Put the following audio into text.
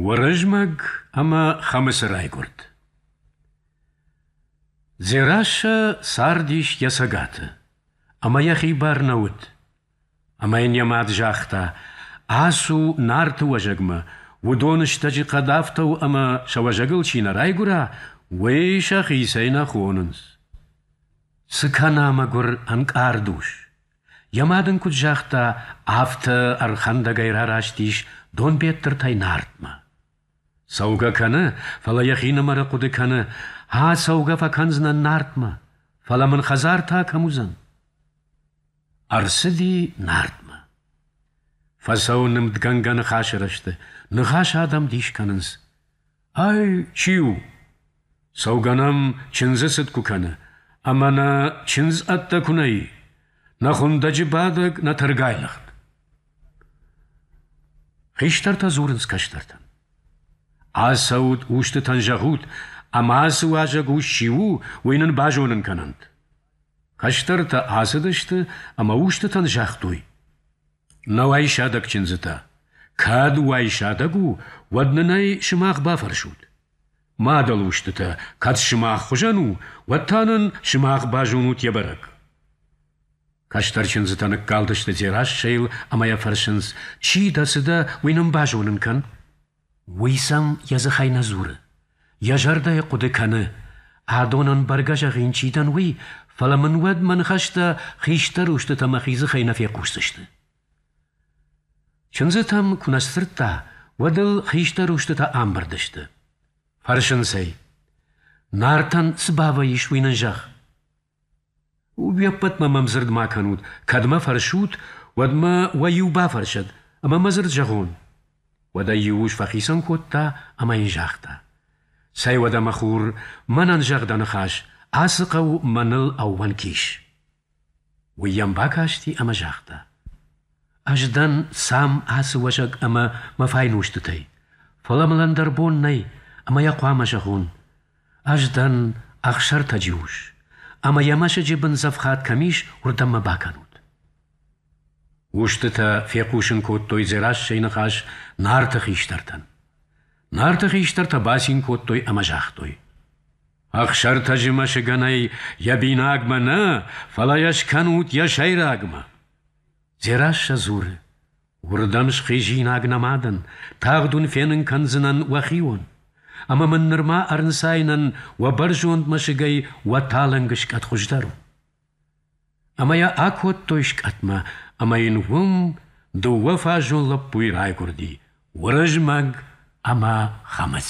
Уырызмӕг ӕмӕ Хӕмыцы райгуырд. Дзерассӕ цардис йӕ цӕгаты, ӕмӕ йӕхи бар нӕ уыд. Ӕмӕ йын йӕ мад загъта: «Ацу Нарты уӕзӕгмӕ, уыдон стӕджы хъӕд афтӕ у, ӕмӕ сӕ уӕзӕгыл чи нӕ райгуыра, уый сӕхицӕй нӕ хонынц». Цы кӕна мӕгуыр ӕнкъард ус? Йӕ мад ын куыд загъта, афтӕ ӕрхӕндӕгӕй рараст ис Донбеттыртӕй Нартмӕ. Цӕугӕ кӕны, фӕлӕ йӕхинымӕры хъуыды кӕны, ацӕугӕ фӕкӕндзынӕн Нартмӕ, фӕлӕ мын хӕдзар та кӕм уыдзӕн? Ӕрцыди Нартмӕ. Фӕцӕуы нымдгӕнгӕ ныхасы рӕзты, ныхас адӕм дис кӕнынц. Ай чи у? Цӕугӕ нӕм чындзы цыд куы кӕны, ӕмӕ нӕ чындз ӕддӕ куы нӕ и, нӕ хуындӕджы бадӕг, нӕ тӕргай лыгъд. Хистӕртӕ дзурынц кӕстӕртӕн. Ацӕут, устытӕн зӕгъут, ӕмӕ ацы уазӕг ус чи у, уый нын базонын кӕнӕнт. Кӕстӕртӕ ацыдысты ӕмӕ устытӕн загътой: Нӕу ӕй сӕдӕг чындзытӕ. кӕд уӕй сӕдӕг у, уӕд нын ӕй сымах бафӕрсут. Мадӕл устытӕ, кӕд сымах хуызӕн у, уӕд та нын сымах базонут йӕ бӕрӕг. Кӕстӕр чындзытӕ ныккалдысты Дзерассӕйыл ӕмӕ йӕ фӕрсынц, чи дӕ, цы дӕ, уый нын базонын кӕн. Уый сӕм йӕ дзыхӕй нӕ дзуры, йӕ зӕрдӕйы хъуыды кӕны, адонӕн бӕргӕ зӕгъин чи дӕн, уый, фӕлӕ мын уӕд мӕ ныхӕстӕ хистӕр устытӕ мӕхи дзыхӕй нӕ фехъусдзысты. Чындзытӕм куы нӕ сдзырдта, уӕд ыл хистӕр устытӕ амбырд сты. Фӕрсынц ӕй: Нартӕн цы бавӕййыс, уый нын зӕгъ. Уеппӕтмӕ мӕм дзырд ма кӕнут, кӕд мӕ фӕрсут, уӕд мӕ уӕ-иу бафӕрсӕд ӕмӕ мӕ дзырд зӕгъон. Уӕд ӕй иу ус фӕхицӕн кодта ӕмӕ йын загъта: «Цӕй уӕдӕ, мӕ хур, мӕнӕн зӕгъ дӕ ныхас, ацы хъӕу мӕныл ӕууӕнк ис». Уый йӕм бакасти ӕмӕ загъта: «Ӕз дӕн сам ацы уӕзӕг ӕмӕ мӕ файнустытӕй, фӕлӕ мыл ӕндӕр бон нӕй, ӕмӕ йӕ хъуамӕ зӕгъон. Ӕз дӕн Ӕхсӕртӕджы ус, ӕмӕ йӕ мӕсыджы бындзӕфхад кӕм ис, уырдӕм мӕ бакӕнут. Устытӕ фехъусын кодтой Дзерассӕйы ныхас Нарты хистӕртӕн. Нарты хистӕртӕ бацин кодтой ӕмӕ загътой. Ӕхсӕртӕджы мӕсыгӕнӕй йӕ бинагмӕ нӕ, фӕлӕ йӕ скӕнут йӕ сӕйрагмӕ. Дзерассӕ дзуры. Уырдӕм схизинаг нӕ мадӕн, тагъд уын фенын кӕндзынӕн уӕхион. Ӕмӕ мын нырма ӕрнцайынӕн уӕ бӕрзонд мӕсыгӕй уӕ талынг скъӕт хуыздӕр у. Ӕмӕ йӕ акодтой скъӕтмӕ, ӕмӕ йын уым дыууӕ фазон лӕппуйы райгуырди Уырызмӕг ӕмӕ Хӕмыц.